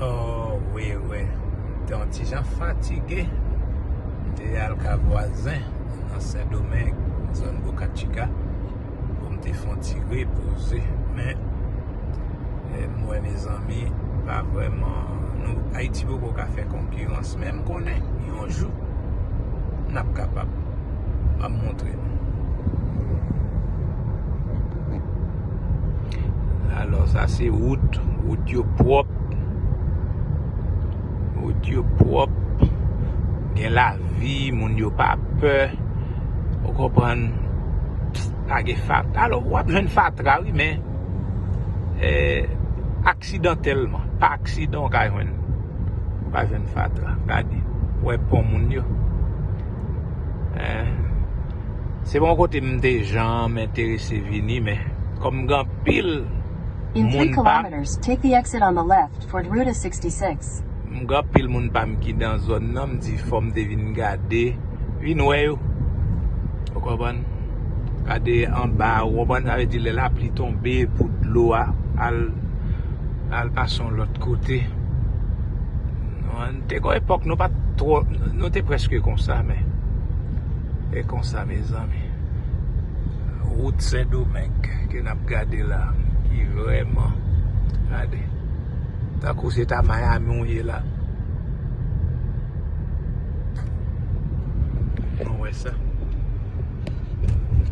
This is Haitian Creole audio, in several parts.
Oh wi wi m te yon ti jan fatige m te al ka vwazen nan sendomeng nan zòn bokatchika pou m te fè yon ti repoze men m wè mezanmi pa vrèman nou ayiti poko ka fè konkirans men m konnen yon jou n ap kapab m ap montre nou. Alò sa se wout, wout yo pwòp, wout yo pwòp, gen lavi, moun yo pa pè, ou konprann, pa gen fatra, alò w ap jwenn fatra wi men, aksidantèlman, pa aksidan w ka jwenn, w ka jwenn fatra, gade, wè pon moun yo, se pa yon kote m te janm enterese vini men. Kom gen anpil moun pam. M gen anpil moun pam ki nan zòn nan m di fom te vin gade vin wè yo. Ou konprann? Gade anba ou konprann sa vle di lè lapli tonbe pou dlo a al pase yon lot kote. Te gon epok nou pat two nou te preske konsa men e konsa mezanmi. Rout sendomeng ke nap gade la ki vreman gade tankou se ta miami ou ye la nou we sa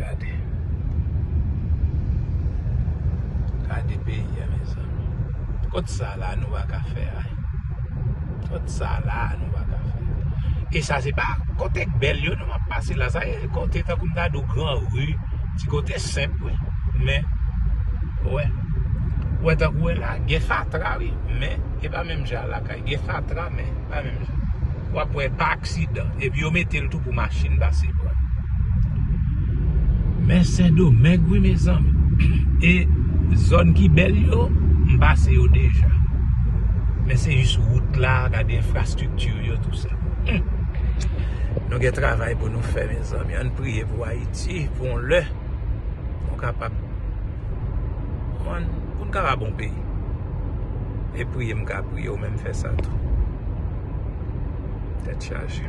gade gade peyi a mezanmi kot sa la nou baka fe a. Kot sa la nou pa ka fè. E sa se pa kote k bèl yo nou ap pase la. Sa se kote tankou m ta di w gran ri. Ti kote senp wi. Men, ou wè. Ou wè tankou wè la gen fatra wi. Men, e pa menm jan lakay. Gen fatra men, e pa menm jan. wap wè pa aksidan epi yo metel tou pou machin pase pranl. Men sendomeng wi mezanmi e zòn ki bèl yo m pase yo deja men se jis wout la gade enfrastrikti yo tout sa humm nou gen travay pou nou fè mezanmi ann priye pou ayiti pou yon lè nou kapab konprann poun kapab yon peyi e priye m ka. Pou yo menm fè sa tou. Tèt chaje.